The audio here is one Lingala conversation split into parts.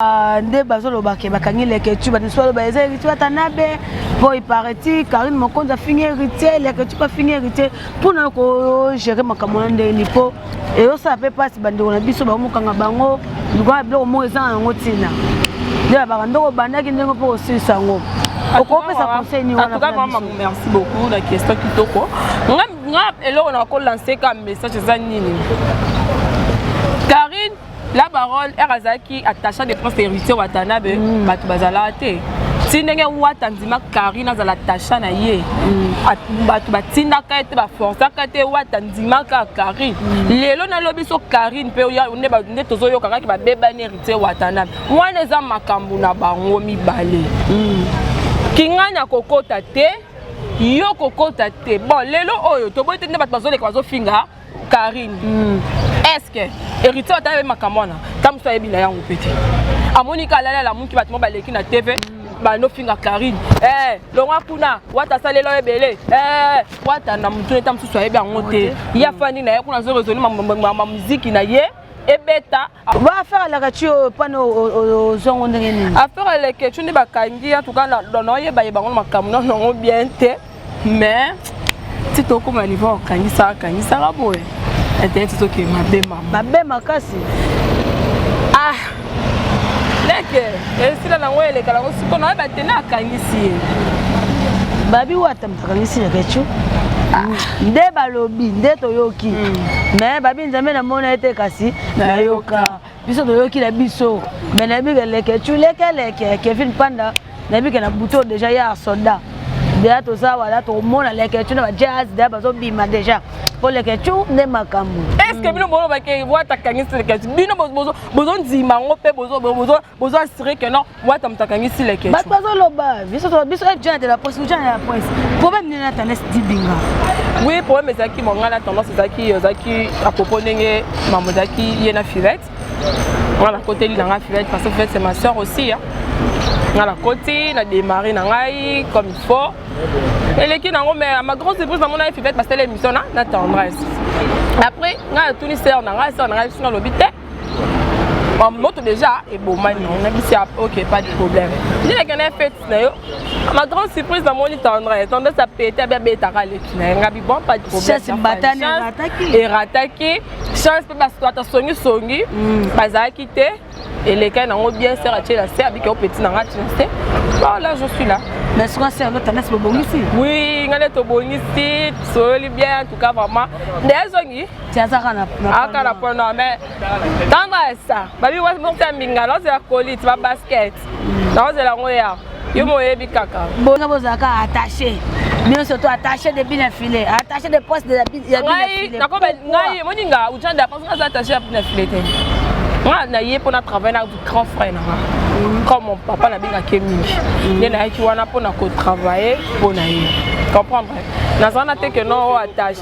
Ah, nde bazoloba ke bakangi leketu bato mosusu baloba eza héritier watanabe mpo ipareti karine mokonzi afingi héritier leketu mpe afingi héritier mpona kogere makambo wana ndenge nini mpo eyosala mpe mpasi bandeko na biso bakomokanga bango lokola biloko moko eza na yango ntina nde babaka ndoko obandaki ndenge mpo kosilisa yango okopesa conseil nini wana merci beaucoup na question kitoko nga eloko na kolanse ka message eza nini karine la baronne ere azalaki attacha de prince héritier watanabe mm. bato bazalaka te ti ndenge wata andima karine azala tacha na ye mm. bato batindaka ye te baforsaka te wata andimaka karine mm. lelo nalobi so karine mpe nde tozoyoka kaki babebani héritier watanabe wana eza makambo na bango mibale mm. kingani akokota te yo kokota te bon lelo oyo toboyi te nde bato bazoleka bazofinga Karine mm. est-ce que héritier ata yebi makambo wana ta mosusu ayebi na yango mpe te amoni ka alali alamuki bato mo baleki na tv mm. banofinga karine hey, eh, longwa kuna wata asalela ebele hey, eh, wata na motu eta mosusu ayebi yango te ye afandi na ye kuna azoresoli mamuziki na ye ebeta ba affaire alakaci oyo pana ozwa ngo ndenge nini affaire alakaci nde bakangi ya tuka naoyeba yeba ngo makambo nano yango bien te mais ti tokoma niveau okangisaka kangisaka boye internet ezoke mabe mama mabe makasi ah leke esila nango elekala ngo siko naoyeba te na akangisi ye babi wata Akangisi na kechu. nde balobi nde toyoki me babi nzambe namona ete kasi nayoka biso toyoki na biso me nayebi ke leke chu leke leke kevin panda nayebi ke na buto deja ya soda deja toza wala tokomona leke chu na ba jazz deja bazobima deja mpo leke chu nde makambo est ce que bino bolobake wata kangisi leke chu bino bozondima yango mpe bozo bozo assurer que non wata moto akangisi leke bato bazoloba biso biso jana de la presse jana de la presse problème nini na tendance dibinga oui problème ezalaki mo ngai na tendance ezalaki ezalaki à propos ndenge mamo ezalaki ye na filette ngai nakoteli na ngai filette parce que filette c'est ma soeur aussi hein. ngai nakoti na démarre na ngai comme il faut eleki nango mais ma grande surprise namona ye filette basala émission na na tendresse après ngai natuni sœur na ngai sœur na ngai bisinga alobi te moto déjà ebomani nabisi ya ok pas de problème nde nakenda fete na yo ma grande surprise namoni tendresse tendresse apete abi abetaka leki na ye ngabi bon pas de problèmeerataki chance mpe bato ata songisongi mm. bazalaki te elekaki nango bien ser atie na se abiki opeti na nga tina se voilà je suis là mais soka ser lo tendance bobongisi oui ngai nde tobongisi tosoyoli bien en tout cas vraiment nde ezongi tiazaka na aka na pono mais ntango asa babi wasi mokta ya mbinga naozela colite ba basket naozela yango ya yo moyebi kaka bona bozalaka attaché bino surtout attaché de bina filet attaché de poste de ya bina filet nakoba ngai moni nga ujan da parce que aza attaché ya bina filet te nga na ye mpona travail na grand frère na nga mm. comme mon papa nabengaki ye mingi mm. nde nayaki wana mpona kotravaille mpo na ye comprendre nazana te ke no attaché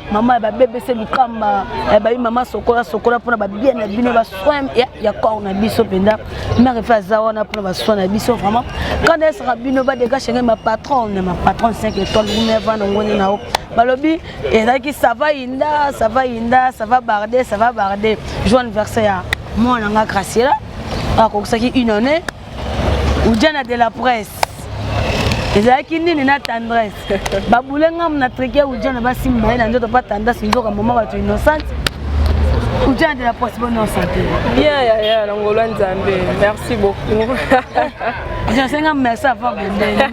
mama ya babebe se lukamba eh, bayi mama sokola sokola mpona babia na bino basoin ya corps na biso mpenza mare efe aza wana mpona basoin na biso vraiment kanda esaka bino badega shenge mapatronne mapatronne 5 étoile gumi avanda ngoni na yo balobi ezalaki sava yinda sava yinda sava barde sava barde jour anniversaire ya mwana nga graciela akokisaki une année ujana de la presse ezalaki nini na tendresse babule ngamu na trike ya ujana basimba ye na nzoto mpa tendresse nzoka mama bato innocente ujana de la presse bonne santé bien yaya na ngolo ya nzambe merci beaucoup jasenga merci ava bondeni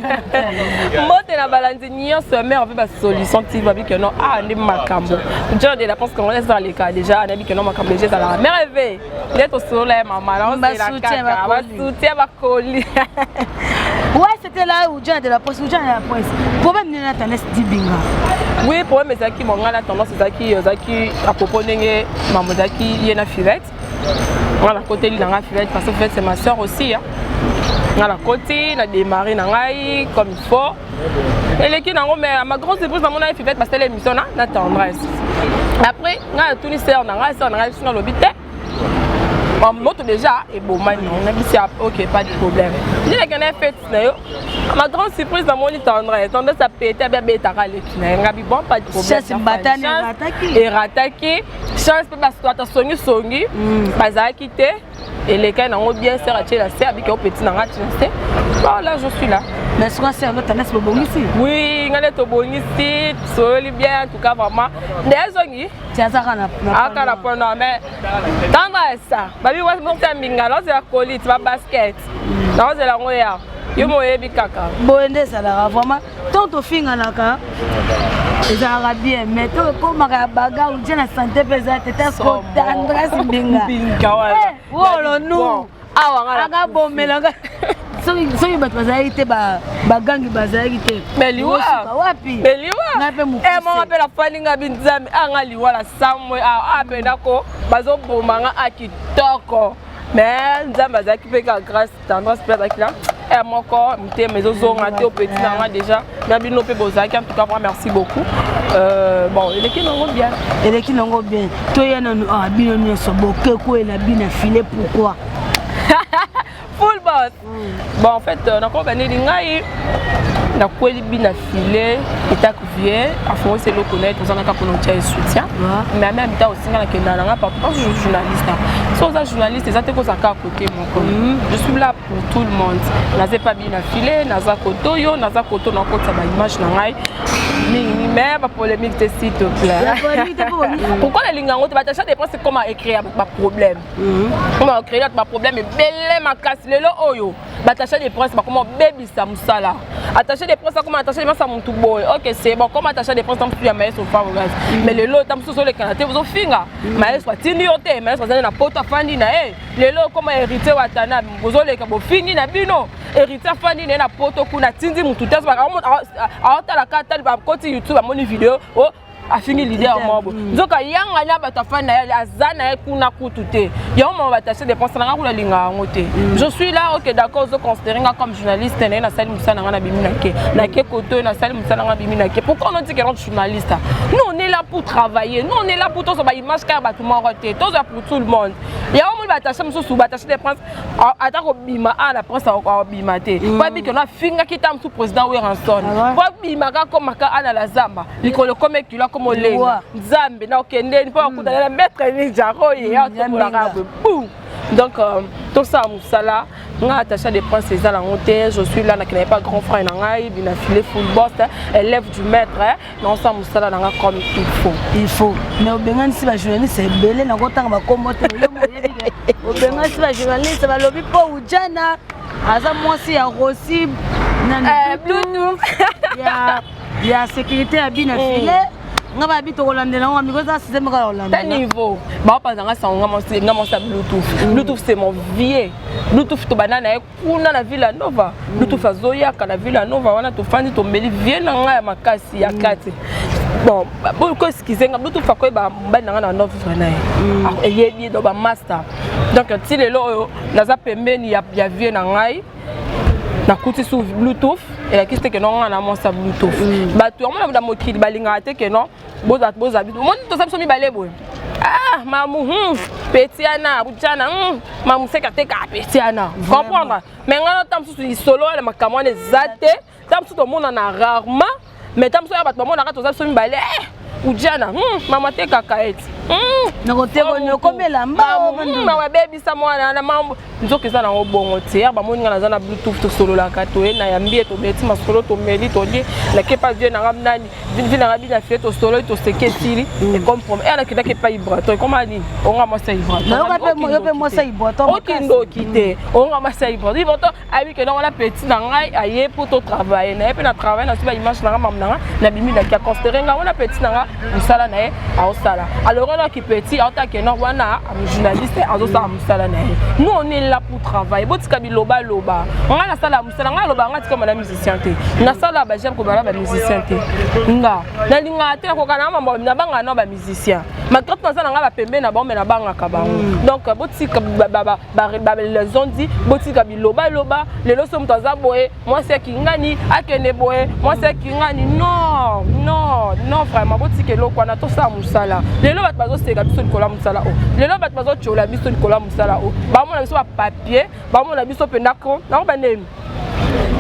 mbote na balandi nyonso ya mare mpe basolution ti babi keno a nde makambo ujana de la presse congolaise ezaleka déjà anayebi keno makambo deja ezalaka mare eve nde tosolola ya mama naozelakakabasutien bakoli ouais c'était là où John de la presse où John de la presse problème nini na tendance dibinga oui problème ezalaki monga na tendance ezalaki ezalaki à propos ndenge mama ezalaki ye na filette nga nakoteli na nga filette parce que filette c'est ma soeur aussi hein. nga nakoti na démarre na ngai comme il faut eleki nango mais ma grande surprise namona ye fivete basala émission na na tendresse après ngai natuni sere na ngai sere na ngai bisinga alobi te moto déjà ebomani nabisi ok pas de problème nde nakenda fete na yo ma grande surprise namoni tendresse tendresse apete abi abetaka leki na ye ngabi bon pas de problème erataki chance mpe bato asongisongi bazalaki te elekaki nango bien sere atie na se abiki opeti na ngati na se voilà je suis là mais soka sere lo tendance bobongisi oui ngai nde tobongisi tosoyoli bien en tout cas vraiment nde ezongi tiazaka na aka na pono mais ntango esa babi wasi moko ya mbinga naozela colite babasket naozela yango ya yo moyebi kaka boye nde ezalaka vraiment ntango tofinganaka ezalaka bien mais to ekomaka ya bagar ntie na sante mpe eza te tasko tendresse mbinga eh, wolo nu anga bomelanga soki bato bazalaki te bagangi bazalaki te wapi nga mpe mokusemama mpe nafandi nga binzambe anga liwa la samwe awa mpe ndako bazoboma nga a kitoko mais nzambe azalaki mpe ka grâce tendresse mpe azalaki na heure moko mitema ezozonga te opeti na nga déjà na bino mpe bozalaki en tout cas vraiment merci beaucoup euh, bon eleki nango bien eleki nango bien toya nanu awa ah, bino nyonso bokekwela bina file pourquoi full bos mm. bon en fait euh, nakoba nini ngai nakweli bina filet etat cuvier afongisi eloko na ye toza kaka mpona otya ye soutien mais ame amita osinga na kenda na nga partout parce que journaliste so oza journaliste eza te kozala kaka kote moko mm. je suis là pour tout le monde naza epa bi na filet naza kote oyo naza kote oyo nakotisa baimage na ngai mingi mais bapolémique te s'il te plaît pourquoi nalinga yango te batacha dépend c'est comment écrire baproblème mm. oyo baocréer bato baproblème ebele makasi lelo oyo batache de prince bakoma kobebisa mosala attaché de prince akoma attaché de masa motu boye ok c'est bon comme attaché de prince ta mosusu ya maestro farogas mm. mais lelo ta mosusu ozolekana te ozofinga mm. maestro atindi yo te maestro azali na poto afandi na ye lelo koma héritier watana bozoleka bofingi na bino héritier afandi na ye na poto kuna atindi motu te aotalaka ata bakoti youtube amoni video oh, afingi leader ya mobo mm. nzoka yanga na bato afani na ye aza na ye kuna kutu te yango mama bataxe dépense na nga kuna linga yango te mm. je suis là ok d'accord ozo considere nga comme journaliste naye nasali mosala na nga na bimi nake nake koto nasali mosala na nga bimi nake pourquoi ono tikela journaliste nous on est là pour travailler nous on est là pour tozwa ba image kaka bato moko te tozwa pour tout le monde yango moni bataxe mosusu bataxe de prince ata kobima a na prince akobima te po abiki ono afingaki ta mosusu président weranson po abimaka komaka a na la zamba mikolo ekoma ekilo akoma olengi nzambe na okendeni mpo akutana na maître ninja oyo ye atokolaka boye bum donc euh, tosala mosala nga attaché de prince eza nango te je suis là nakendaki pa grand frère na ngai bina file football élève du maître naosala mosala na nga comme il faut il faut mais obenganisi bajournaliste ebele nakotanga bakombo te obenganisi bajournaliste balobi mpo ujana aza mwasi ya rosi na bluetooth ya sécurité ya bina hmm. filet nga babi tokolandela ngo miko eza size moko yolanda ta niveau baopanza nga sango nga mosi nga mosi ya bluetooth hmm. bluetooth c'est mon vieux bluetooth tobanda na ye kuna na villa nova hmm. bluetooth azoyaka na villa nova wana tofandi tombeli vieux na nga ya makasi ya kati bon boko eskize nga bluetooth akoyeba mobali na nga na novre na ye eyebi do bamaster donc ti lelo oyo naza pembeni ya vieux na ngai nakuti su bluetooth elakisi te keno nga na monsa bluetooth mm. bato yango na mokili balingaka te keno boza boza omoni toza biso mibale boye ah mamu hmm, petiana kutiana hmm, mamu seka teka petiana comprendre mais nga nota mosusu lisolo wana makambo wana eza te ta mosusu tomonana rarement mais ta mosusu ya bato bamonaka toza biso mibale eh, ujana hmm, mama te kaka ete mawa ebebisa mwana na mambo nzoka eza nango bongo te ya bamoni nga naza na bluetooth tosololaka toye na yambi ye tobeti masolo tomeli tolie nake epai vie nanga nani vi nanga bina fie tosololi toseki esili ekomprome eya nakendaki epai ibraton ekoma nini onga mwasi ya ibraton okindoki te onga mwasi ya ibraton ibraton ayebi ke noko na petit na ngai aye mpo to travaille na ye mpe na travaille na soba image na nga mamu na nga na bimi na ki aconstere nga wana petit na nga mosala na ye aosala alors wana ki petit aota ke noko wana journaliste azosala mosala na ye nous on est là pour travailler botika biloba loba nga nasala mosala nga aloba nga tikama na musicien te nasala bajame kobala ba musicien te nga nalingaka te nakokana na mambo nabangaka na ba musicien malgré naza na nga bapembe na bango me nabangaka bango mm. donc botika bazondi botika bilobaloba lelo so moto aza boye mwasi ya kingani akende boye mwasi ya kingani no no no vraiment botika eloko wana tosala mosala lelo bato bazoseka biso likolo ya mosala oyo oh. lelo bato bazotyola biso likolo ya mosala oyo oh. bamona biso bapapier bamona biso mpenza ko nango bandemi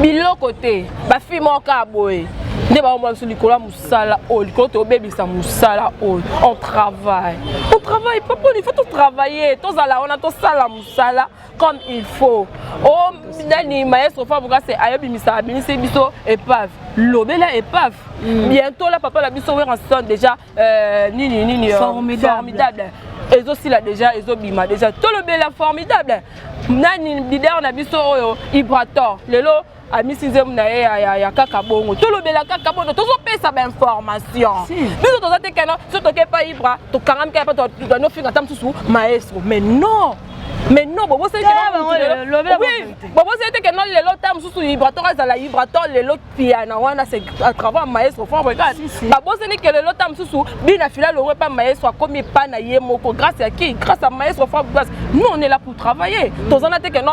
biloko te bafilme oyo kaka boye nde baomona biso likolo ya mosala sala oyo likolo tobebisa mosala oyo on travaille on travaille pas poni faut totravaille tozala wana tosala mosala comme il faut o oh, nani maestro fabrikase ayobimisa abimisi biso epave lobela epave mm. bientôt la papa na biso weraston déjà euh, nini nini euh, formidable ezosila déjà ezobima déjà tolobela formidable nani leader na biso oyo ibrator lelo amisi nzembo na ye ya kaka bongo tolobela kaka bongo tozopesa bainformation biso toza te kena so toke epa ibra tokangamika ya pa tanofinga ata mosusu maestro mais non mais non boboseli te keno lelo ta mosusu ibrator azala ibrator lelo piana wana se à travers maestro fort regarde baboseli ke lelo ta mosusu bina fila longo epa maestro akomi epa na ye moko grâce ya qui grâce ya maestro fort grâce nous on est là pour travailler tozana te keno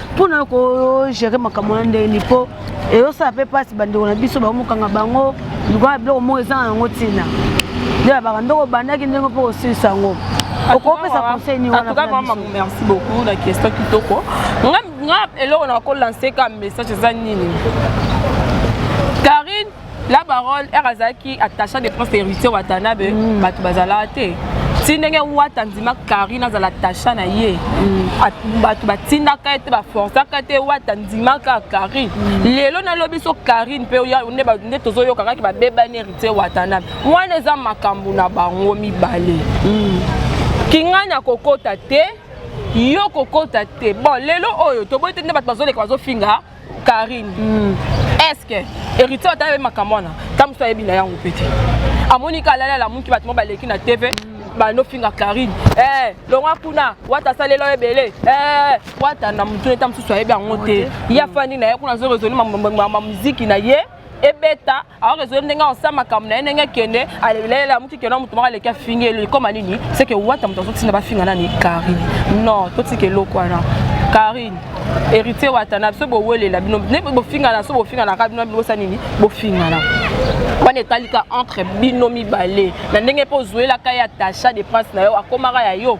mpona kogere makambo na ndenge nini mpo eyosala mpe mpasi bandeko na biso bakomokanga bango lokola biloko moko eza na yango ntina nde babaka ndoko obandaki ndenge mpo kosilisa yango okopesa conseil nini wana merci beaucoup na question kitoko nga eloko na kolanse ka message eza nini karine la baronne ere azalaki attacha de prince héritier watanabe mm. bato bazalaka te ti ndenge wata andima karine azala tacha na ye mm. bato batindaka ye te baforsaka te wata andimaka karine mm. lelo nalobi so karine mpe nde tozoyoka kaki babebani heritier watanabe wana eza makambo na bango mibale mm. kingani akokota te yo kokota te bon lelo oyo toboyi te nde bato bazoleka bazofinga Karine mm. est-ce que héritier ata ayebi makambo wana ta mosusu ayebi na yango mpe te amoni ka alali alamuki bato mo baleki na tv mm. banofinga karine eh, longwa kuna wata asalela ebele eh, wata na motu eta mosusu ayebi yango te ye afandi na ye kuna azo resoli mamuziki na ye ebeta alors ezali ndenge aosa makambo na ye ndenge akende alelele amuki kenda moto moko aleki afingi eleli koma nini seke wata moto azotinda bafinga nani karine non totika eloko wana karine héritier wata na biso bowelela bino ne bofingana so bofinganaka bino bino bosa nini bofingana wana etalika entre bino mibale na ndenge mpe ozuelaka ye attacha de prince na yo akomaka ya yo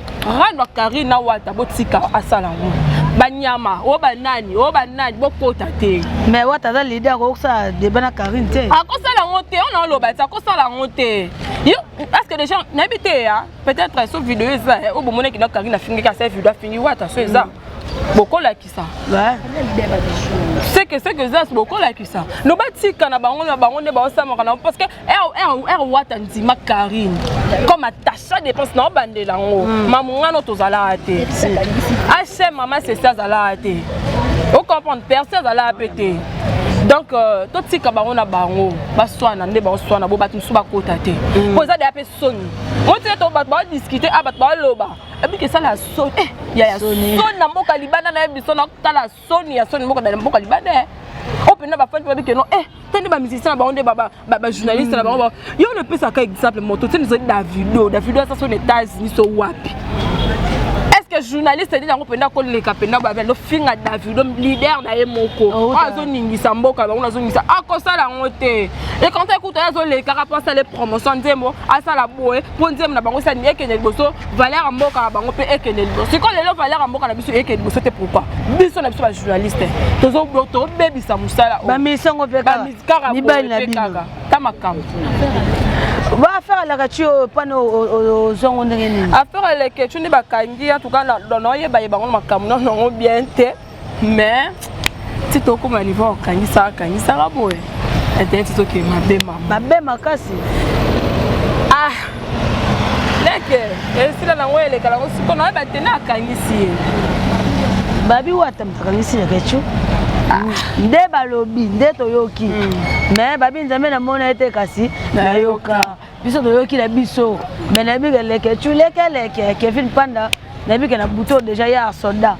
rano ya karine na wata botika asala ngo banyama o banani o banani bokota te mais wata aza lidi akokosala deba na karine te akosala ngo te ona oloba ti akosala ngo te yo parce que déjà nayebi te ya peut-être so video eza eh, oyo bomonaki na karine afingaki asala video afingi wata so eza mm. bokolaki seke seke eza bokolakisa no batika na bango na bango nde baosamaka na parce que r wata ndima carine comme atacha dépense na obandela yango hmm. mamungano tozalaka te hm mama sesi azalaka te ocomprendre perse azalaka mpe te donc euh, totika bango na bango baswana nde baoswana bo bato mosusu bakota te mpo hmm. eza deya mpe soni otika to bato baodiscute a ah, bato baoloba abiki esala ya soni eh, ya ya soni na mboka libanda na ye biso nakotala soni ya soni mboka na mboka libanda eh. oyo mpenza bafandi babi keno e te nde bamusicien na bango nde bajournaliste na bango mm. yo napesaka exemple moto te nizali davido davido asa so na états-unis so wapi que journaliste nini yango mpenza koleka mpenza babe azofinga davido leader na ye moko oh, oyo azoningisa mboka bango nazongisa akosala yango te ekantai kutu ye azolekaka mpo asala promotion nzembo asala boye mpo nzembo na bango esa nini ekende liboso valeur ya mboka na bango mpe ekende liboso sikoyo lelo valeur ya mboka na biso ekende liboso te pourquoi biso na biso bajournaliste tozobebisa mosala bamisango mpe kaka mibali na bino ta makambo baaffaire alakati oyo pane ozwango ndenge nini affaire aleketi nde bakangi ya tuka noyeba ye bango makambo nonongo bien te mais ti tokoma niveau okangisaka kangisaka boye internet ezoke mabe mama mabe makasi ah leke esila nango eleka nango siko naye batene akangisi ye babi wata moto akangisi na kechu ah. nde balobi nde toyoki me hmm. babi nzambe namona ete kasi nayoka biso toyoki na biso me nayebi ke leke cu leke leke kevin panda nayebi ke na buto deja ye asoda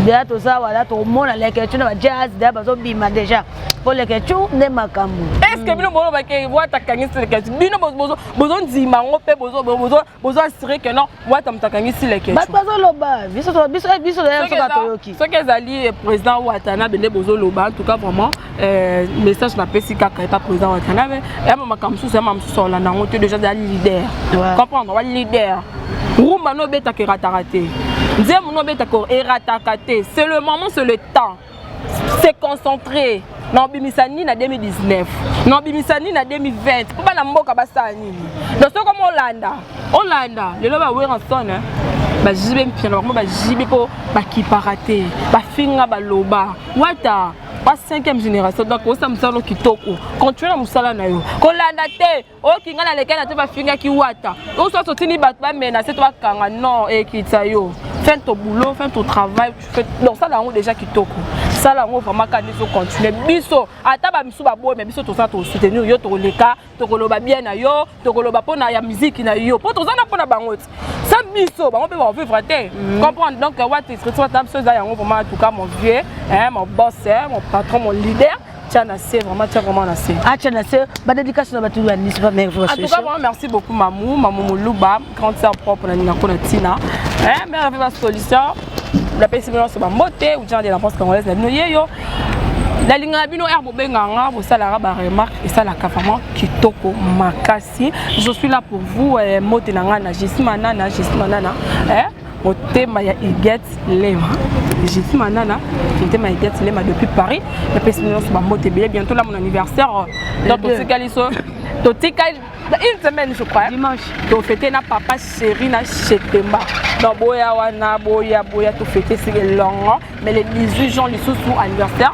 deja toza wala tokomona leke cu na bajazz deja bazobima deja mpo leke cu nde makambo eske bino bolobake wata kangisi leke cu bino bozondima yango mpe bozoassure ke non wata moto akangisi leke bato bazoloba biso biso eh, biso soki toyoki soki ezali eh, président watanabe nde bozoloba en tout cas vraiment euh, message napesi kaka epa président watanabe yama makambo mosusu yama mosusu olanda yango te déjà zali leader comprendre wa leader rumba no obetaka erataka te nzembo no obetaka erataka te c'est le moment c'est le temps se concentrer na obimisa nini na 2019 na obimisa nini na 2020 mpo bana mboka basala nini donc soki omo olanda olanda lelo ba werrason eh, bajibe mpia na bango bajibe mpo bakipaka te bafinga baloba wata ba 5e génération donc osa mosala kitoko continue na mosala na yo kolanda te oki ngai nalekaki na te bafingaki wata osusu otindi bato bamenase to bakanga non ekitisa yo fin ton boulot fin ton travail donc sala yango déjà kitoko sala yango vraiment kani ezocontinue biso ata bamisu baboyi me biso toza tosoutenir yo tokoleka tokoloba bien na yo tokoloba mpona ya miziki na yo mpo toza na mpona bango ti sa biso bango mpe baovivre te mm. comprendre donc wata escriture wata biso eza yango vraiment en tout cas mon vieux mon boss mon patron mon leader Tiens, na se vraiment tiens vraiment na se ah tiens na se ba dédicace na batu ya nice ba mère vraiment en tout cas vraiment merci beaucoup mamou mamou muluba grande sœur propre na nina ko na tina hein mère avait ma solution la pesi bino so ba mbote ou genre de la France congolaise na bino yeyo nalingaka bino r bobengaka nga bosalaka baremarque esalaka vraiment kitoko makasi je suis là pour vous eh, mote na ngai na jesi manana jesi manana eh? motema ya iget lema jiti manana motema ya iget lema depuis paris napesi nyonso bambote ebele bientôt lamu na anniversaire euh, donc totikali so totikali une semaine je crois dimanche tofete na papa chéri na chetemba donc boya wana boya boya tofete si elongo mais le 18 juin lisusu anniversaire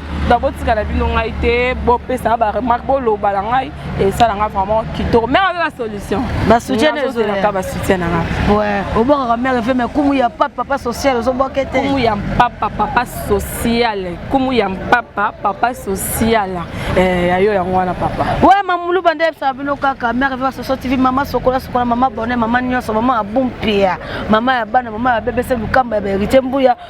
donc botika na bino ngai te bopesa ba remarque boloba na ngai esala ngai vraiment kitoko mère aza na solution basoutienaka basoutien na ngai obokaka mère efe mai kumu ya papa papa social ozoboke te kumu ya mpapa papa social kumu ya mpapa papa social eh, ya yo yango wana papa we mamulu bande yebisaka bino kaka mère efe basoso tv mama sokola sokola mama bone mama nyonso mama ya bumpia mama ya bana mama ya bebese lukamba ya baheritier mbuya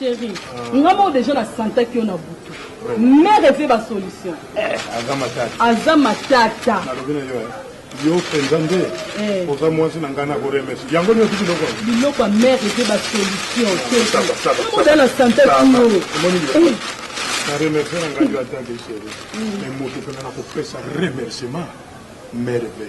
Cherie, nga moko deja na santaki yo na butu. Mère eve ba solution. Aza matata. Aza matata. Nalobi na yo. Yo penza nde oza mwasi na ngai na ko remes. Yango nyo tuki loko. Biloko ya mère eve ba solution. Saba saba. Oza na santaki yo. Omoni biloko. Na remercier na ngai yo atake chérie. Mais moto pena na kopesa remerciement mère eve.